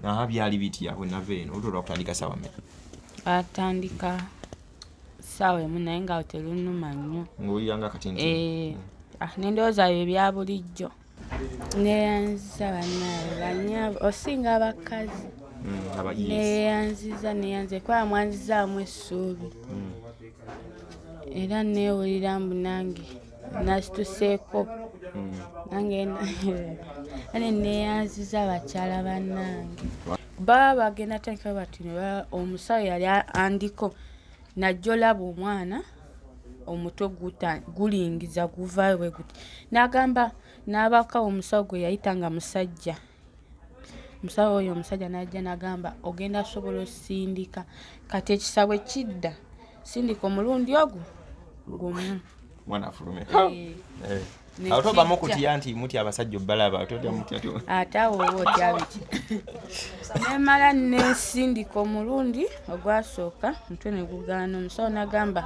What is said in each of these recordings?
aha byali bitya bwe nava eno oluto lwakutandika saawa mmeka atandika saawa emu naye nga telunuma nnyo ngaowulira nga kati nti eh, ah, nendowooza byo ebya bulijjo neyanziza banaye banyabo osinga abakazi mm, neyanziza neyanziza kuba mwanzizaamu essuubi mm. era neewulira mbu nange nasituseeko hmm. nange ane neyanziza abakyala bannange baba bagenda tandika bati omusawo yali andiko najja olaba omwana omutwe gulingiza guvaayo bwe guti n'agamba n'abaka omusawo gwe yayita nga musajja musawo oyo omusajja najja nagamba ogenda sobola osindika kati ekisabwe kidda sindika omulundi ogwo gumu mwana afulume eh. eh. atovamu kutya nti mutya abasajja obbalaba ate awo oba otya biki nemala nesindika omulundi ogwasooka mutwe negugaana omusawo nagamba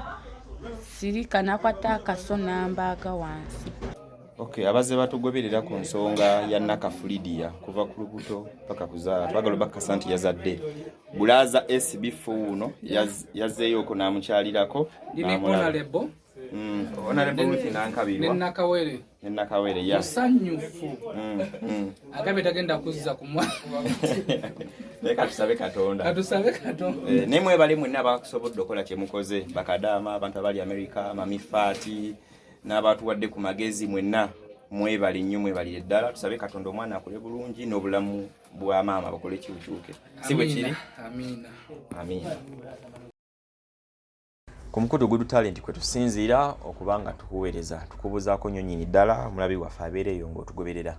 sirika nakwata akaso nambaaga wansi Okay, abazze batugoberera ku nsonga ya Nakafulidia kuva ku lubuto paka kuzaala twagala obakasa nti yazadde bulaza SB fuuno yazzeeyo okwo n'amukyalirako n'amulabo Mm. nenakawere musanyufu mm, mm. agambye tagenda kuzza kumwakatusabe katonda eh, naye mwebale mwenna bakusobodde okukola kyemukoze bakadaama abantu abali amerika mamifaati n'abaatuwadde ku magezi mwenna mwebale nnyo mwebalire ddala tusabe katonda omwana akole bulungi n'obulamu bwa maama bakole kiukyuke si bwe kiri amiina ku mukutu gudu talenti kwe tusinziira okuba nga tukuweereza tukubuuzaako nnyo nyini ddala omulabi waffe abeera eyo ng'otugoberera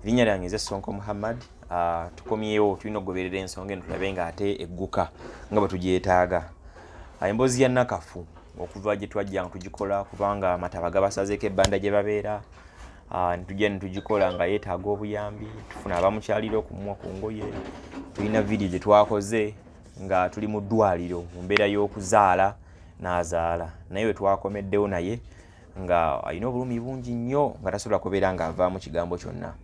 erinnya lyange eze sonko muhammad ah, tukomyewo tulina okugoberera ensonga eno tulabe ng'ate egguka nga bwe tugyetaaga ah, emboozi ya nakafu okuva gye twajja nga tugikola kubanga amataba gabasazeeko ebbanda gye babeera ah, netujja netugikola nga yeetaaga obuyambi tufuna abamukyalira okumwa ku ngoye tulina vidiyo gye twakoze nga tuli mu ddwaliro mu mbeera y'okuzaala n'azaala naye we twakomeddewo naye nga alina obulumi bungi nnyo nga tasobola kubeera nga avaamu kigambo kyonna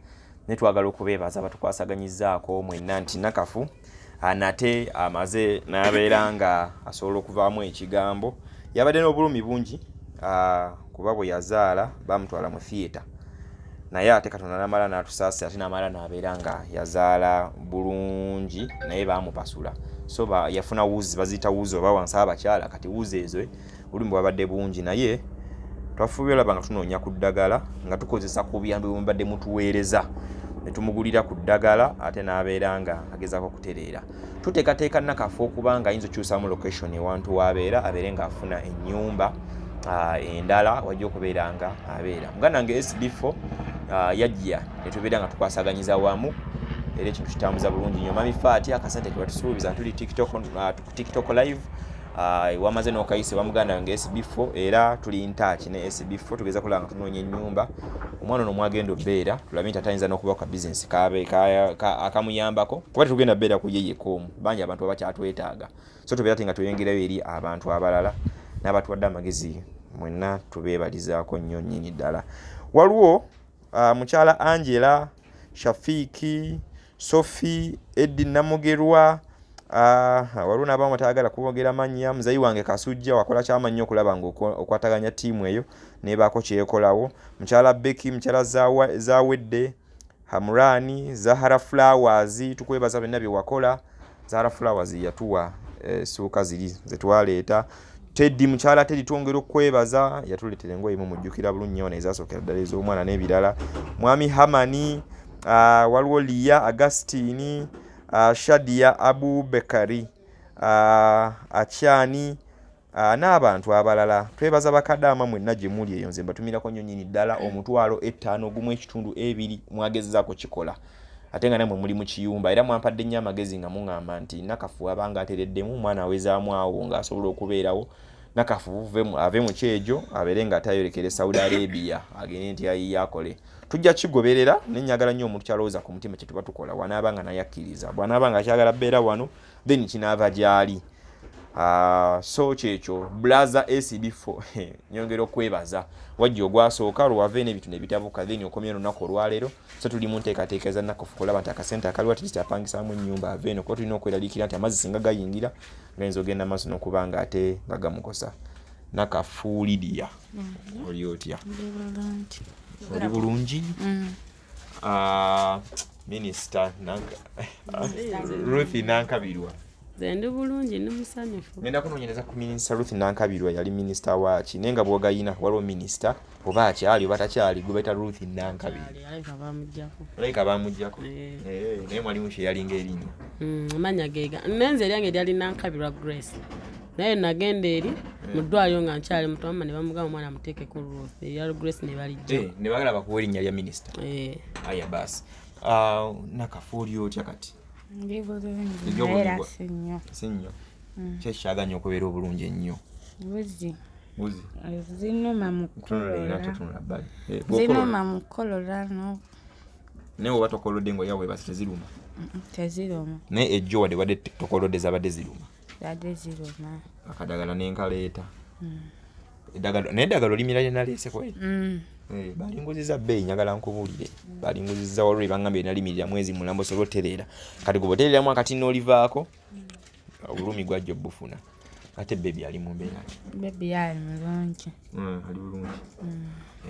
naye twagala okubeebaza batukwasaganyizaako mwenna nti nakafu ah, nate amaze nabeera nga asobola okuvaamu ekigambo yabadde n'obulumi bungi ah, kuba bwe yazaala bamutwala mu theatre naye ate katonda namala natusaasi ate namala nabeera nga yazaala bulungi naye bamupasula so yafuna wuzi baziyita wuzi oba wansi abakyala kati wuzi ezo obulumi bwabadde bungi naye twafubye olaba nga tunoonya ku ddagala nga tukozesa ku buyambi bwemubadde mutuweereza netumugulira ku ddagala ate n'abeera nga agezako okutereera tuteekateeka nakafa okuba nga ayinza okyusamu location ewantu waabeera abeere nga afuna ennyumba endala wajja okubeera nga abeera muganda nga sd4 yajja netubeera nga tukwasaganyiza wamu era ekintu kitambuza bulungi nyo mami faati akasente kebatusuubiza tuli tiktok tiktok live ah, wamaze nokayise bamuganda wange sb4 era tuli ntaaki ne sb4 tugeza kulaba nga tunoonya ennyumba omwana ono mwagenda obeera tulabe nti atayinza nokuba ka bizinesi akamuyambako kuba tetugenda beera ku yeyeka omu bangi abantu baba kyatwetaaga so tubeera ti nga tweyongerayo eri abantu abalala n'abatuwadde amagezi mwenna tubeebalizaako nnyo nnyini ddala waliwo uh, mukyala angela shafiiki sofi eddi namugerwa uh, waliwo nabamu batayagala kubogera mannya muzayi wange kasujja wakola kyamannyo okulaba nga okwataganya tiimu eyo nebaako kyekolawo mukyala beki mukyala zawedde hamurani zahara flowers tukwebaza byonna byewakola Zara Flowers yatuwa eh, suuka ziri zetwaleeta Teddy mukyala Teddy twongera okwebaza yatuletera engoye mu mujjukira bulungi ono ezasookera ddala ez'omwana n'ebirala mwami Hamani uh, waliwo Liya Agustini uh, ah, Shadia Abubekari uh, Akyani Ah, n'abantu abalala twebaza bakadaama mwenna gye muli eyo nze mbatumirako nnyo nyini ddala omutwalo ettaano ogumu ekitundu ebiri mwagezezaako kikola ate nga namwe muli mu kiyumba era mwampadde nnyo amagezi nga muŋŋamba nti nakafu abanga atereddemu omwana awezaamu awo ng'asobola okubeerawo nakafu ave mu kyejo abeere nga atayorekere saudi arabia agende nti ayiye akole tujja kigoberera ne nyagala nnyo omuntu kyalowooza ku mutima kye tuba tukola wanaaba nga naye akkiriza bw'anaaba nga akyagala beera wano then kinaava gyali ah, so kyekyo blaza acb4 nyongera okwebaza wajja ogwasooka lwewava eno ebintu nebitabuka then okomya olunaku olwaleero so tuli mu nteekateeka eza nakofu kulaba nti akasente akaliwo atigiti apangisamu ennyumba ava eno kuba tulina okweraliikira nti amazzi singa gayingira gayinza ogenda amaaso nokuba nga ate nga gamukosa nakafuulidiya mm-hmm. oli otya oli bulungi mm. Ah, minisita Ruth Nankabirwa zendi bulungi ni musanyufu ngenda kunoonyereza ku minisita Ruth Nankabirwa yali minisita waaki naye nga bwogayina waliwo minisita oba akyali oba takyali gwe bayita Ruth Nankabirwa alabika baamugyako eh. Eh, naye mwalimu kye yalinga erinya hmm, amanya gega nenze eryange eryali Nankabirwa Grace naye nagenda eri hmm. mu ddwaliro nga nkyali muto mama ne bamugamba omwana muteeke ku ruth eya grace ne balijja eh, ne bagala bakuwa erinnya lya minisita eh. aya baasi ah, nakafuuli otya kati ndi bulungi era si nnyo si nnyo hmm. kyekyaganya okubeera obulungi ennyo buzi buzi eh, zinuma mukulozinuma mukukolola no naye oba tokolodde ngaoyaweebasi teziruma teziruma naye ejjo wadde wadde tokolodde zabadde ziruma zade ziruma akadagala nenkaleeta hmm. edagalo naye edagalo limira lyenaleese kwe hmm. eh, balinguziza bbeeyi njagala nkubuulire hmm. balinguziza walwo ebangamba enalimirira mwezi mulambo sobola otereera kati gwe botereeramu akati n'olivaako obulumi gwajja obufuna ate bebi ali mu mbeera bebi ali mulungi ali bulungi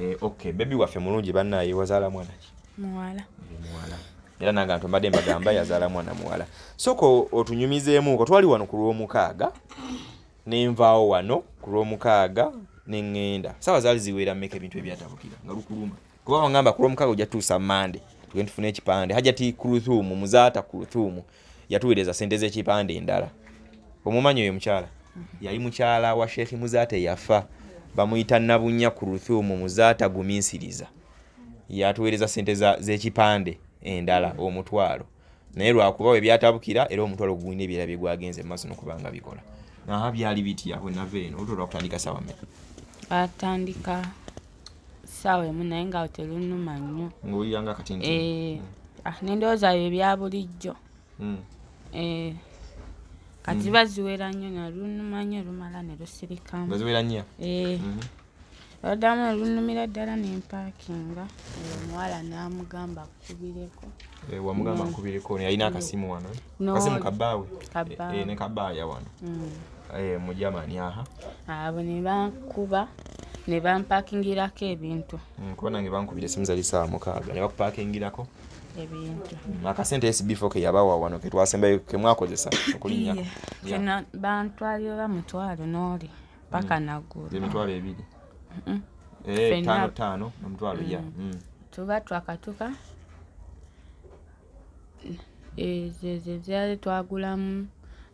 eh, ok bebi waffe mulungi bannaaye wazaala mwana ki muwala muwala era nange antu mbadde mbagamba yazaala mwana muwala sooka otunyumizeemuko twali wano ku lwomukaaga nenvaawo wano ku lwomukaaga neŋŋenda saawa zaali ziweera mmeka ebintu ebyatabukira nga lukuluma kuba wangamba ku lwomukaaga ojja tutuusa mande tugende tufune ekipande hajati kuruthumu muzaata kuruthumu yatuweereza sente z'ekipande endala omumanyi oyo mukyala yali mukyala wa sheekhi muzaata eyafa bamuyita nabunya ku ruthumu muzaata guminsiriza yatuweereza sente z'ekipande endala omutwalo naye lwakuba we byatabukira era omutwalo gugulina ebyera bye gwagenze mu maaso nokubanga bikola naha byali bitya bwenava eno olutolwakutandika sawa meka atandika saawa emu naye nga telunuma nnyo ngaowulira nga kati nti eh, mm. ah, nendowooza yo ebya bulijjo mm. eh, kati ziba mm. ziwera nnyo nalunuma nnyo lumala ne lusirikamu ziwera nnyo eh. mm-hmm. oluddamu olunumira ddala nempakinga omuwala n'amugamba akubireko wamugamba akubireko yalina akasimu wano no. Kasi mukabaawe Kabba. e, e, ne kabaaya wano mm. e, mu Germany aha abo ne bankuba ne bampakingirako ebintu mm, kuba nange bankubira esimu zali saa mukaaga ne bakupakingirako ebintu mm, akasente esibifo ke yabawa wano ke twasembayo ke mwakozesa okulinyako yeah. yeah. bantwalira oba mutwalo n'oli paka mm. naggulu emitwalo ebiri mm. e, tano tano nomutwalo mm. ya mm. tuba twakatuka zezezeali twagulamu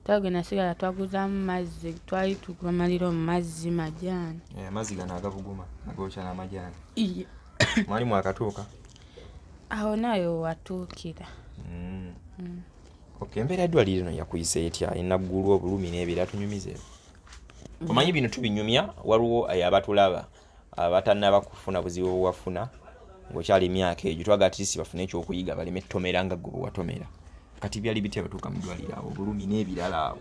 twage nasigala twaguzamu mazzi twali tugamalira omu mazzi majaani eh, amazzi gano agabuguma agokya namajaani mwali mwakatuuka awo nayo watuukira mm. mm. ok embeera eddwaliro no yakuyisa etya enaggulu obulumi n'ebira tunyumize omanyi bino tubinyumya waliwo abatulaba abatanaba kufuna buzibu bwewafuna ngaokyala emyaka egyo twaga atlist bafune ekyokuyiga baleme tomera nga gwe bwewatomera kati byali bitya batuuka mudwaliro awo obulumi n'ebirala awo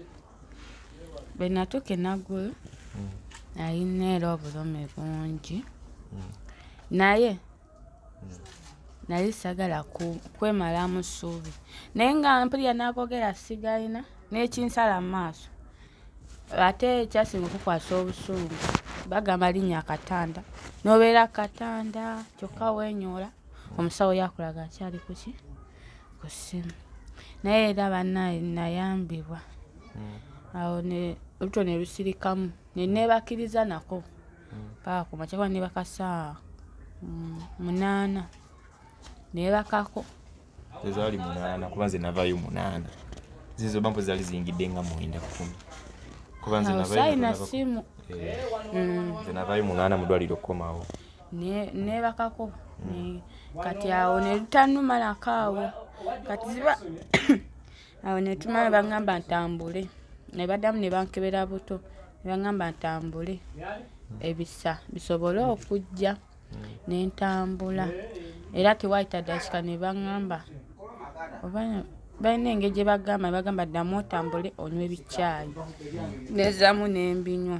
bwenatuuka enagulu hmm. nayina era obulumi bungi hmm. naye naye sagala kwemalamu ssuubi naye nga mpulira nakogera sigalina nekinsala mu maaso ate ekyasinga okukwasa obusungu bagamba linnya akatanda nobeera akatanda kyokka wenyoola omusawo yakulaga akyali kuki ku ssimu naye era banaye nayambibwa hmm. awo oluto ne lusirikamu nenebakiriza nako paka ku makya kuba ne bakasaa mm, munaana nebakako ezaali munaana kuba nze navayo munaana zizo bampo zaali ziyingidde nga mwenda kumi kuba nze navayoalina simu eh, mm. nze navayo munaana mudwaliro okukomawo nebakako mm. kati awo nelutanumalako awo kati ziba awo netumala bagamba ntambule nebaddamu nebankebera buto nebagamba ntambule ebisa bisobole okujja nentambula era tewayita dakika nebagamba oba balina engeri gye bagamba ne bagamba ddamu otambule onywa ebicaayi nezamu n'embinywa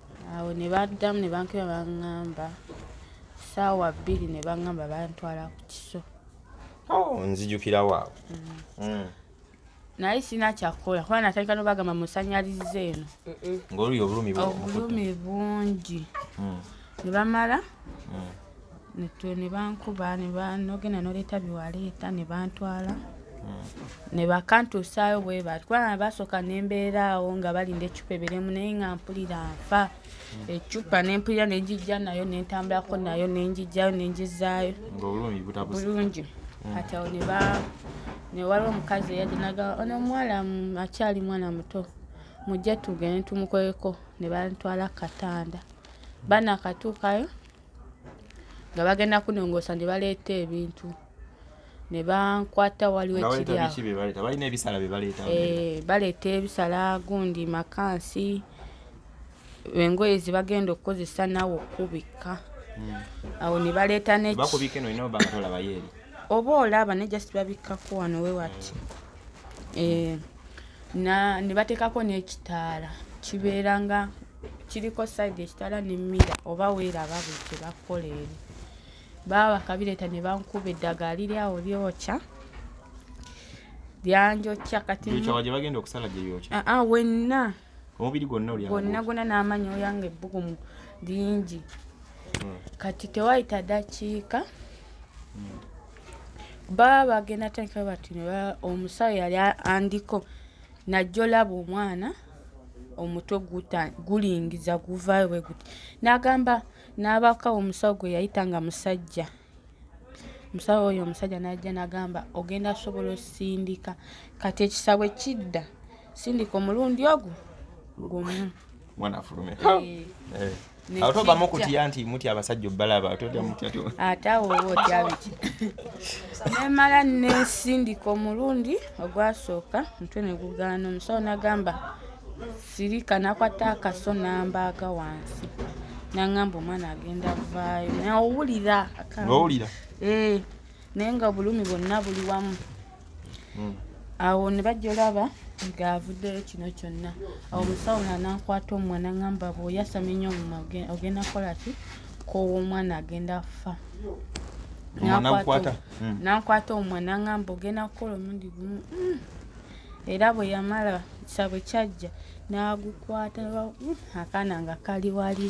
awo ne baddamu ne bankuba baŋŋamba saawa bbiri ne baŋŋamba bantwala ku kiso oh, nzijukirawo awo mm. mm. naye sirina kyakukola kuba natandika nobagamba musanyaliza eno ng'oluli obulumi bungi mm. ne bamala ne bankuba nogenda noleeta byewaleeta ne bantwala hmm. ne bakantuusaayo bwe bati kubanga basooka ne mbeera awo nga balinda eccupa eberemu naye nga mpulira nfa hmm. eccupa ne mpulira ne njijja nayo ne ntambulako nayo ne njijjayo ne njizaayo bulungi hmm. kati awo ne ba ne waliwo omukazi eyajinaga ono omuwala akyali mwana muto mujje tugende tumukoleko ne bantwala ku katanda banakatuukayo nga bagenda kunongoosa ne baleeta ebintu ne bankwata waliwo ekiryabalina ebisala byebaleeta eh, baleeta ebisala gundi makansi engoye zebagenda okukozesa nawe okubikka hmm. awo ne baleeta oba olaba ne just babikkako wano wewati hmm. eh, ne bateekako n'ekitaala kibeera nga kiriko sayidi ekitaala nemmira oba weeraba bwe kye bakukola eri baba bakabireeta ne bankuba eddagala liri awo lyokya lyanjokya kati ah, ah, wenna omubiri gwonna gwonna gwonna n'amanyi oyanga ebbugumu lingi hmm. kati tewayita dakiika hmm. baba bagenda atandika bati omusawo yali andiko najja olaba omwana omutwe gulingiza guvaayo bwe guti n'agamba n'abaka omusawo gwe yayita nga musajja omusawo oyo omusajja n'ajja n'agamba ogenda sobola osindika kati ekisabwe kidda sindika omulundi ogwo gumu mwana afulume eh. eh. awo tovamu okutya nti mutya abasajja obbalaba ate awo oba otya biki nemala nesindika omulundi ogwasooka mutwe negugaana omusawo nagamba sirika nakwata akaso nambaaga wansi nangamba omwana agenda vaayo naowulira owulira eh. naye nga obulumi bwonna buli wamu hmm. awo ne bajja olaba ng'avuddeyo kino kyonna awo omusawo nga nankwata omwa naŋamba bweoyasama enyo omuma ogenda kukola ki koowa omwana agenda afa nankwata omwa hmm. naŋamba ogenda kukola omundi gumu hmm. era bwe yamala sabwe kyajja n'agukwata akaana nga kali wali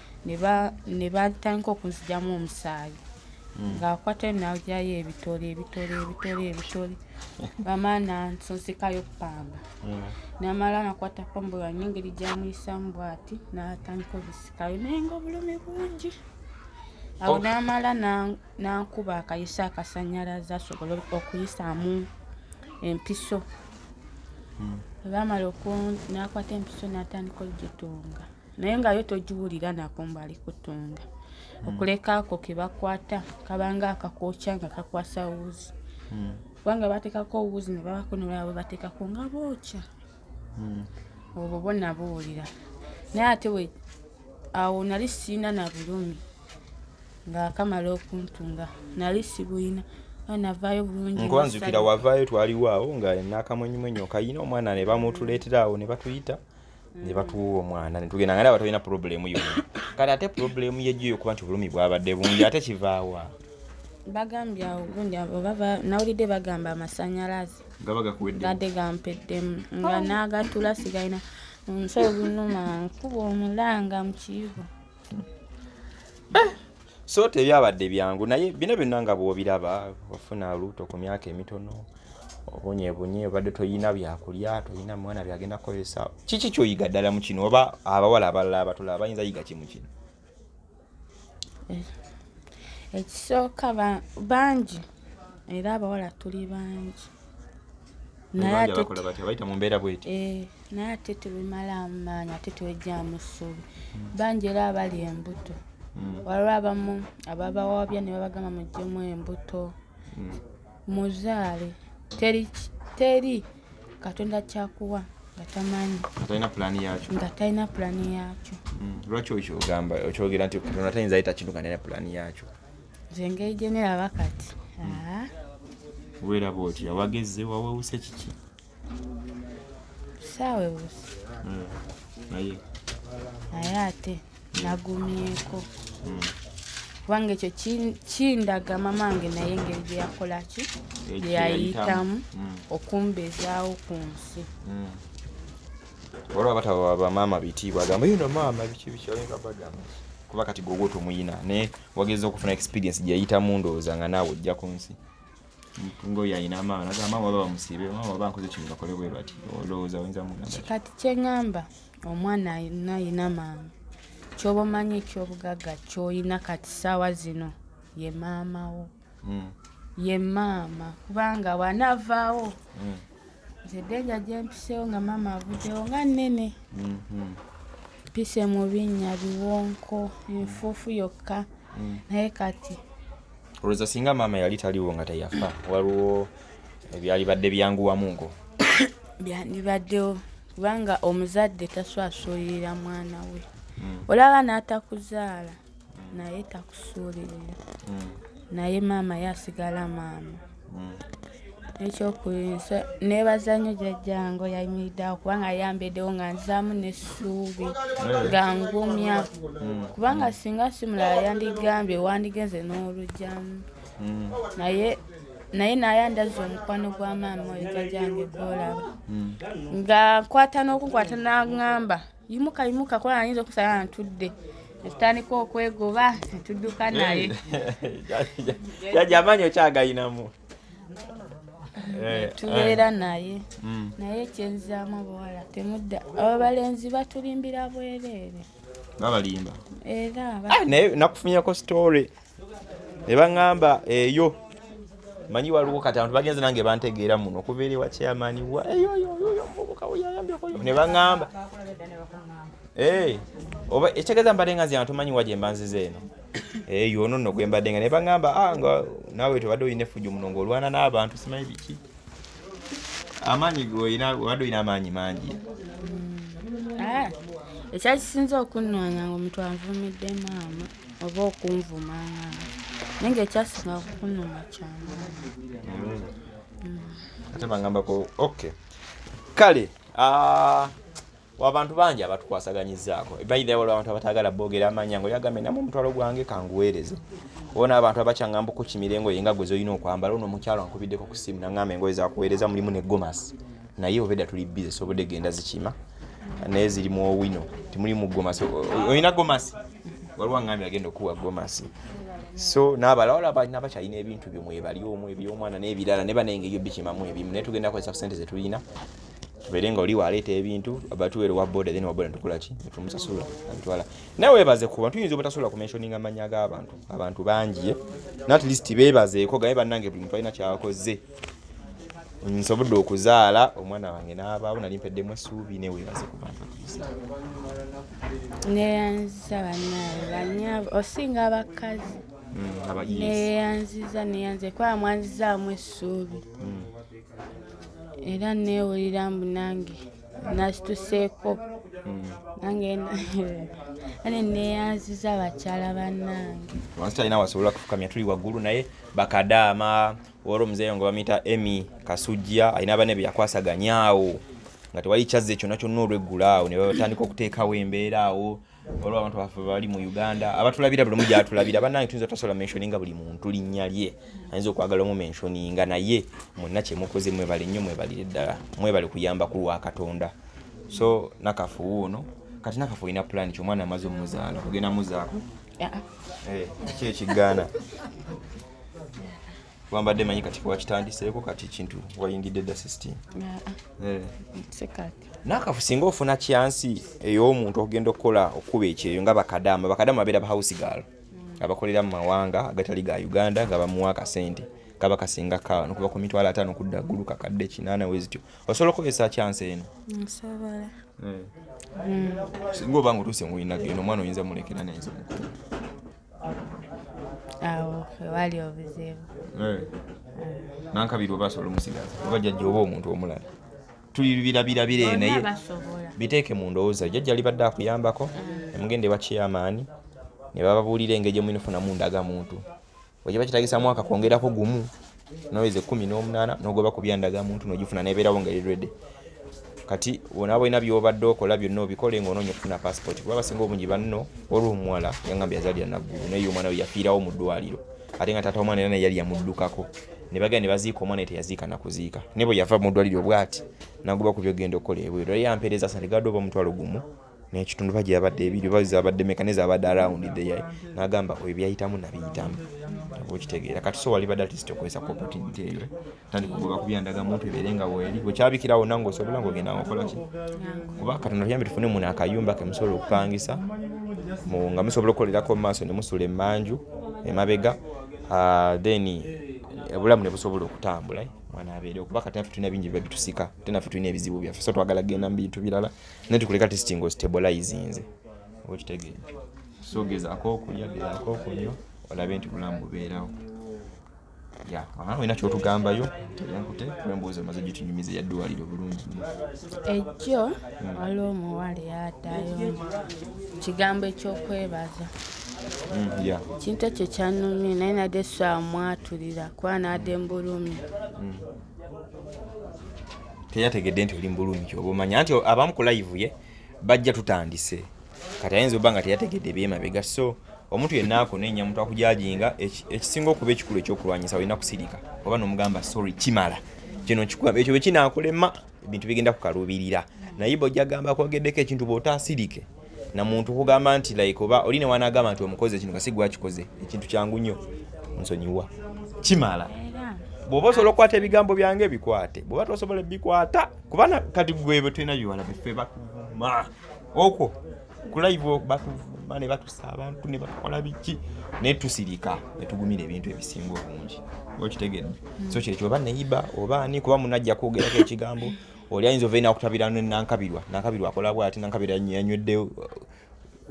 ne batandika okunzijamu omusaayi hmm. ng'akwata najayo ebitole ebitole ebitole ebitole bamala nansonsekayo pamba hmm. namala nakwata pamba yange engeri gyamuyisamu bwati natandika obisikayo naye nga obulumi bungi awo namala nankuba akayisa akasanyalaza asobole okuyisaamu empiso hmm. bamala nakwata empiso natandika ogitunga naye nga yo togiwulira nakumbali kutunda hmm. okuleka ako kebakwata kabanga akakokya nga kakwasa wuzi hmm. kubanga batekako wuzi nebabako nolaba batekako nga bokya hmm. obwo bona buwulira naye ate awo nali siina na bulumi nga akamala okuntunga nali sibuyina navayo bulungi nkuba nzukira wavaayo twaliwo awo nga nakamwenyumwenyu okayina omwana ne bamutuleetera awo ne batuyita ne batuwa omwana ne tugenda nga ndaba tolina purobulemu yona kati ate purobulemu yejjo eyo kuba nti obulumi bwabadde bungi ate kivaawa bagambye awo gundi obaba nawulidde bagamba amasanyalaze gaba gakuwedde gadde gampeddemu nga oh. naagatula sigalina nsobi numa nkuba omulanga mu kiyigo eh! so tebyabadde byangu naye bino byonna nga bw'obiraba wafuna luuto ku myaka emitono obonyebunye obadde toyina byakulya toyina mwana byagenda kukozesa kiki kyoyiga ddala mu kino oba abawala abalala abatulaba bayinza yiga kimu kino eh, ekisooka bangi era abawala tuli bangi naye atebayita mu mbeera bweti eh. naye ate tebimalaamu maanyi ate tebejjaamu ssuubi hmm. bangi era abali embuto hmm. waliwo abamu ababawabya ne babagamba mujjemu embuto hmm. muzaale teri teri katonda kyakuwa nga tamanyi nga talina pulaani yaakyo lwaki okyogamba okyogera nti katonda tayinza yita kintu nga talina pulaani yaakyo nze engeri gyeneraba kati weeraba otya wagezze wawewuse kiki saawa ewusi hmm. naye naye ate nagumyeko hmm. kubanga ekyo kindaga mama wange naye engeri gye yakolaki gye yayitamu hmm. okumbezaawo ku nsi olaba bataba bamaama bitiibwa agamba yino maama biki biki olinga bagamba kuba kati gwe ogwo tomuyina naye wageza okufuna experience gyeyayitamu ndowooza nga naawe ojja ku nsi mpungo yalina amaana agamba waba bamusiibe waba bankoze kino bakole bwe bati olowooza oyinza mugamba kati kyeŋŋamba omwana alina alina maama kyoba omanyi ekyobugagga kyolina kati saawa zino ye maama wo hmm. ye maama kubanga bwanaavaawo hmm. nze denja gyempiseewo nga maama avuddewo nga nnene hmm, mpise mu binnya biwonko enfuufu yokka naye kati olowooza singa maama yali taliwo nga teyafa waliwo ebyalibadde byanguwamu ngo byandibaddewo kubanga omuzadde taswasulirira mwana we hmm. olaba n'atakuzaala naye takusuulirira hmm. naye maama ye asigala maama hmm. ekyokuyinsa nebaza nnyo jajjange oyayimiridde awo kubanga ayambedewo nga nzaamu nesuubi nga ngumya mm. kubanga singa simulala yandigambye wandigenze n'olugyamu mm. naye naye naye andaza omukwano gwa maama oyo jajjange gwolaba mm. nga nkwata n'okukwata nangamba yimuka yimuka kuba nayinza okusala ntudde etutandika okwegoba netudduka naye jajja amaanyi okyagayinamu Eh, eh. tubeera naye mm. naye kyenzaamu obuwala temudda abalenzi batulimbira bwereere babalimba era ah, naye nakufunyako story ne baŋŋamba eyo manyi waliwo kati abantu bagenze nange bantegeera muno okuva eri wa chairman ne baŋŋamba eh, oba ekitegeeza mbadde nga nze abantu manyi wa gye mbanziza eno eh yono no gwembadde nga ne bangamba ah nga nawe tobadde olina effujo muno ng'olwana n'abantu simanyi biki amaanyi golina obadde olina amaanyi mangi mm. ah, ekyakisinza okunnwanya nga omuntu anvumidde maama oba okunvuma naye nga ekyasinga okukunuma kyamaanyi mm. ate bangambako okay kale ah, wabantu bangi abatukwasaganyizzaako baidha waliwo abantu abataagala boogera amanya nga yagambye namu omutwalo gwange kanguweereze oba n'abantu abakyangamba okukimira engoye nga gwe zolina okwambala ono omukyalo ankubiddeko ku ssimu nangamba engoye zakuweereza mulimu ne gomasi naye obeda tuli bize sobodde genda zikima naye ziri mu owino timulimu gomasi olina gomasi waliwo angambye agenda okuwa gomasi so nabalawala balina bakyalina ebintu byomwebali omu ebyomwana n'ebirala ne banaye nga ebyo bikimamu ebimu naye tugenda kozesa ku sente zetulina tubeere nga oli waleeta ebintu batuweere wa boda then waboda tukolaki tumusasula abitwala naye webaze kuba tuyinza obutasobola kumensioninga amanya g'abantu abantu bangi eh? nat least bebazeeko gaye bannange buli muntu alina kyakoze nsobodde okuzaala omwana wange n'abaawo nali mpeddemu essuubi naye webaze ku bantu neyanziza banaye banyabo osinga abakazi hmm, neyanziza neyanze kuba mwanzizaamu essuubi hmm. era neewulira mbu nange nasituseeko hmm. nange ane neeyanziza bakyala bannange wansi talina wasobola kufukamya tuli waggulu naye bakadaama wali omuzeeyo nga bamuyita emy kasujja alina abane be yakwasaganyaawo nga tewali kyazze kyonna kyonna olweggulaawo ne batandika okuteekawo embeera awo olwo abantu baffe bali mu uganda abatulabira buli omu gyatulabira banange tuyinza tasobola menshoninga buli muntu linnya lye ayinza okwagala omu menshoninga naye mwenna kyemukoze mwebale nnyo mwebalire ddala mwebale kuyamba ku lwa katonda so nakafuwu ono kati nakafu olina pulani ki omwana amaze omuzaala ogenda muzaako ah, ah. Eh, ki ekigaana wambadde manyi kati wakitandiseeko kati kintu wayingidde dda system eh. nakafu singa ofuna kyansi ey'omuntu okugenda okukola okukuba ekyeyo nga bakadama bakadama babeera bahouse gal mm. abakolera mu mawanga agatali ga uganda nga bamuwa akasente kaba kasinga ka nokuva ku mitwalo ataano kudda ggulu kakadde kinaana wezityo osobola okukozesa kyansi eno eh. mm. singa oba nga otuuse muwinageno omwana oyinza mulekera nayinza omukulu awo wewali obuzibu eh. nankabiri oba asobola omusigaza oba jajja oba omuntu omulala tulibirabirabira eyo naye biteeke mu ndowooza jajja alibadde akuyambako mm. emugenda ewa chairmaani ne bababuulira engeri gyemuinafunamu ndaga muntu wekiba kitagisamu akakwongerako gumu noyeza ekumi n'omunaana nogoba ku byandaga muntu nogifuna nebeerawo nga eri redi kati bona balina byobadde okola byonna obikole nga onoonya okufuna passport kuba basinga obungi banno waliwo omuwala yangamba yazalira naggulu naye omwana we yafiirawo mu ddwaliro ate nga taata omwana era naye yali yamuddukako ne bagenda ne baziika omwana teyaziika nakuziika naye bwe yava mu ddwaliro bwati naguba ku byogenda okukola ebweru era yampeereza sandigado oba omutwalo gumu nekitundu oba gyeyabadde ebiri oba zabadde meka ne zabadde around there nagamba oyo byayitamu nabiyitamu okitegeera kati so wali badde atist okozesa ku opportunity eyo tandika okugoba ku byandaga muntu ebeere nga weeri wekyabikira wonna nga osobola nga ogenda ngaokola ki kuba katonda tuyambe tufune muno akayumba ke musobola okupangisa nga musobola okukolerako mu maaso ne musula emanju emabega ah, then obulamu ne busobola okutambula eh? mwana abeere okuba kati nafe tulina bingi biba bitusika ate nafe tulina ebizibu byaffe so twagala genda mu bintu birala naye tukuleka testi nga ostabolizinze oba okitegeera so gezaako okulya gezaako okunywa olabe nti bulamu bubeerawo ya aha olina kyotugambayo teyankute embuuzi omaze gitunyumiza yaddwaliro bulungi ejjo hmm. waliwo omuwala eyadayo kigambo ekyokwebaza hmm, ya kintu ekyo kyanumye naye nade swamwatulira kuba nade mbulumi hmm. teyategedde nti oli mubulungi oba omanya nti abamu ku live ye bajja tutandise kati ayinza oba nga teyategedde ebyemabega so omuntu yenna akunenya omuntu akujajinga ekisinga okuba ekikulu ekyokulwanyisa olina kusirika oba nomugamba sorry kimala kino kikugamba ekyo bwekinakulema ebintu bigenda kukaluubirira naye bwojja gamba kwogeddeko ekintu bwotasirike na muntu kugamba nti like oba oli ne wanagamba nti omukoze ekintu kasi gwakikoze ekintu kyangu nnyo nsonyiwa kimala bwoba osobola okukwata ebigambo byange bikwate bwoba tosobola ebikwata kubana kati gwebwe tulina biwala bife batuvuma okwo kulaivu batuvuma ne batusa abantu ne bakola biki naye tusirika ne tugumira ebintu ebisinga obungi okitegedde so kyekyo oba neyiba oba ani kuba munajja kwogerako ekigambo oli ayinza ovaina akutabira nankabirwa nankabirwa akola bwati nankabira yanywedde uh,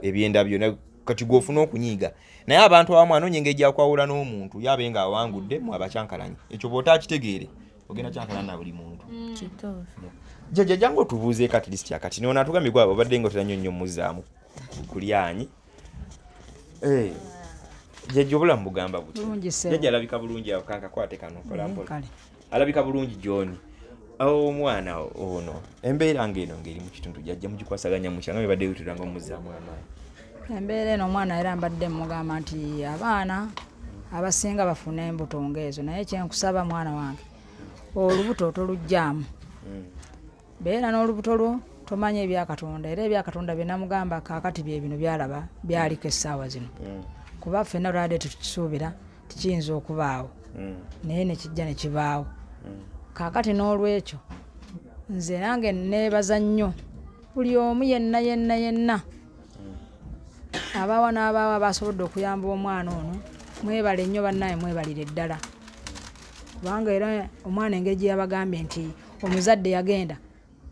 ebyenda byona kati gwofuna okunyiiga naye abantu abamu anoonya engeri gyakwawula n'omuntu yabe nga awangudde mu abakyankalanye ekyo bwota akitegeere ogenda kyankalana na buli muntu mm. jaja jangu otubuuze kati lisiti akati nona atugambye gwaba obadde nga otera nyo nnyo muzaamu kulyanyi eh. jaja obulamu bugamba buti jaja alabika bulungi akankakwate kano kolampola mm, alabika bulungi john omwana ono embeera ngaeno ngaeri mukitundu jajja mugikwasaganya mukya nga bebadde yutira nga omuzaamu amaanyi embeera eno omwana era mbadde mugamba nti abaana abasinga bafuna embuto ngaezo naye kyenkusaba mwana wange olubuto tolugyamu hmm. beera n'olubuto lwo tomanya ebya katonda era ebya katonda byenamugamba kakati byebino byalaba byaliko essaawa zino mm. kuba ffenna lwade tukisuubira tikiyinza okubaawo mm. naye nekijja nekibaawo mm. kakati n'olwekyo nze nange neebaza nnyo buli omu yenna yenna yenna abaawa n'abaawa basobodde okuyamba omwana ono mwebale nnyo bannaye mwebalire ddala kubanga era omwana engeri gyeyabagambye nti omuzadde yagenda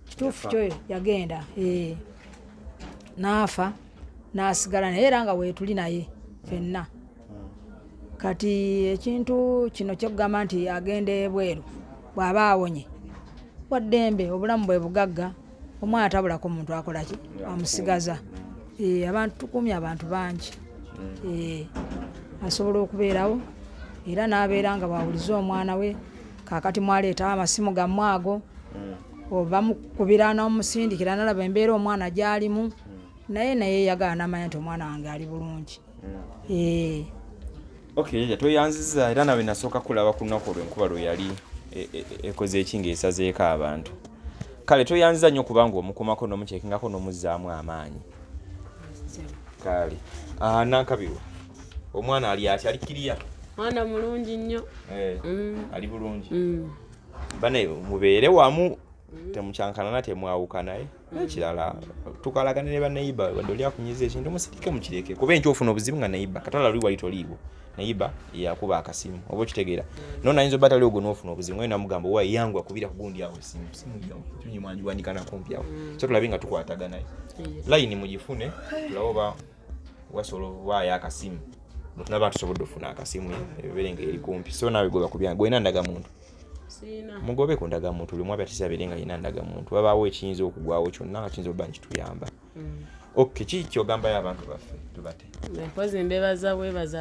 kituufu kyo yagenda eh. naafa nasigala naye era nga weetuli naye fenna hmm. kati ekintu kino kyokugamba nti agenda ebweru bw'aba awonye waddembe obulamu bwe bugagga omwana tabulako omuntu akolaki amusigaza eh, abantu tukuumye abantu bangi hmm. eh, asobola okubeerawo era n'abeera nga bwawulize omwana we kakati mwaleetawo amasimu gammwe ago hmm. oba mukubira n'omusindikira nalaba embeera omwana gyalimu hmm. naye naye yagala namanya nti omwana wange ali bulungi hmm. eh. ok yaya tweyanziza era nawe nasooka kulaba ku lunaku olwenkuba lwe yali e, e, e, ekoze eki ngaesazeeko abantu kale tweyanziza nnyo kubanga omukomako nomukyekingako nomuzaamu amaanyi kale ah, nankabirwa omwana ali atya ali kiriya mwana mulungi nnyo eh, mm. ali bulungi mm. bane mubeere wamu mm. temukyankanana temwawukanaye ekirala tukalagane ne baneiba wadde oli akunyiza ekintu musirike mukireke kuba enkyo ofuna obuzibu nga neiba katala luli wali toliiwo neiba yakuba akasimu oba okitegeera no nayinza oba tali ogwo nofuna obuzibu nga namugamba owa yangu akubira kugundi awo esimu simuyangunyimwanjiwandikanakumpi awo so tulabe nga tukwataganaye layini mugifune tulabe oba wasobola okubaayo akasimu naba tusobodde ofuna akasimu ebeere nga eri kumpi so naawe goba kubya gwena ndagamuntu mugobe ku ndagamuntu lumu abe atisa abeere nga yina ndagamuntu wabaawo ekiyinza okugwawo kyonna nga kiyinza okuba nti tuyamba mm. ok kiki kyogambayo abantu baffe tubate mpozi mbebaza bwebaza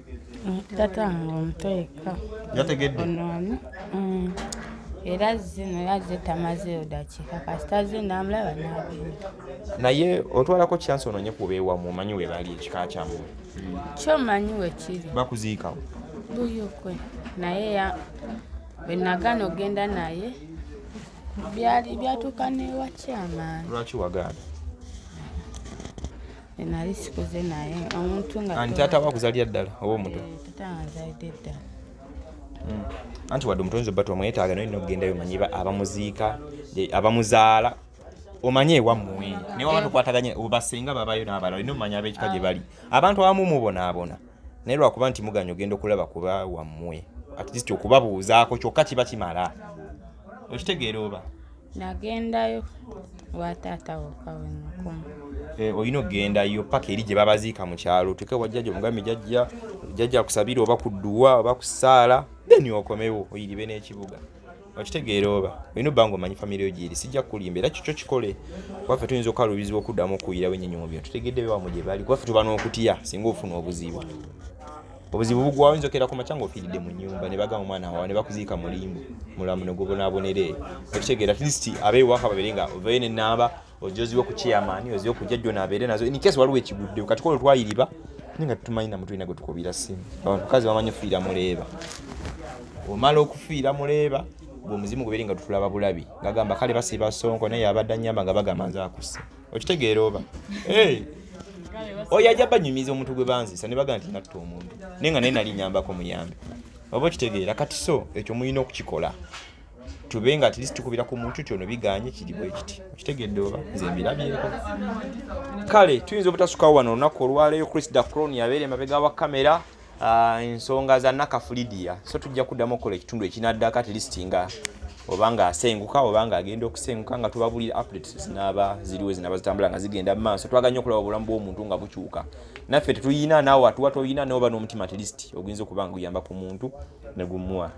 tata nga omuto yekka yategedde onoani mm. era zino yazze tamazeyo dakiika kasita ze namulaba nagenda naye otwalako kyansi ononye kubeewamu omanyi webali ekika kyamu kyo manyi wekiri bakuziikawo buyokwe naye ya bwenagana ogenda naye byali byatuuka newakyamaani lwaki wagaana nali sikuze naye omuntu nga anti taata wakuzalira ddala oba omuto eh, taata anzalidde ddala hmm. anti wadde omutonzi obba twamwetaaga naye nokugendayo omanyi abamuziika abamuzaala omanye ewammwe naye waba tukwataganya obasenga babayo n'abalala olina omanya ab'ekika gye bali abantu abamu mubonaabona naye lwakuba nti muganya ogenda okulaba kuba wammwe at least okubabuuzaako kyokka kiba kimala okitegeera oba nagendayo wataata wokawenakuma eh, olina okugendayo paka eri gye babaziika mu kyalo otuke wajjaja omugambi jajja jajja kusabira oba kudduwa oba kusaala then okomewo oyiribe n'ekibuga okitegeera oba olina obanga omanyi famire yo gyeri sijja kukulimba era kikyo kikole kubaffe tuyinza okukalubizibwa okuddamu okuwulirawo ennyonyi mu bino tutegedde bewamu gye bali kubaffe tuba n'okutya singa ofuna obuzibu obuzibu bugwawo yinza okera ku makya ngaofiiridde mu nyumba ne bagamba omwana wawa ne bakuziika mulimbu mulamu ne gubonaboneree okitegeera atleast abeewaka babere nga ovayo nenamba ojoziwe ku chairman oziwe ku jajjo nabeere nazo in case waliwo ekiguddewo kati kolo twayiriba naye nga tutumanyi namu tulina gwe tukubira simu abantu kazi bamanyi ofiira muleeba omala okufiira muleeba omuzimu guberi nga tutulaba bulabi ngagamba kale basiba sonko naye abadde anyamba nga bagamba nze akuse okitegeera oba oyo ajja banyumiza omuntu gwe banzisa ne bagamba nti natta omuntu naye nga naye nali nyambako muyambi oba okitegeera kati so ekyo mulina okukikola tube nga atlist tukubira ku muntu ti ono biganye kiri bwe kiti okitegedde oba nze mbirabyeko kale tuyinza obutasukawo wano olunaku olwaleero chris dacron yabeera emabega wa kamera ah, ensonga za nakafulidia so tujja kuddamu okukola ekitundu ekinaddako atlist nga obanga asenguka obanga agenda okusenguka nga tubabulira updates zinaba ziriwo zinaba zitambula nga zigenda mu maaso twaganya okulaba obulamu bw'omuntu nga bukyuka naffe tetuyina naawe atuwa toyina nawe oba n'omutima atlist oguyinza okuba nga guyamba ku muntu ne gumuwa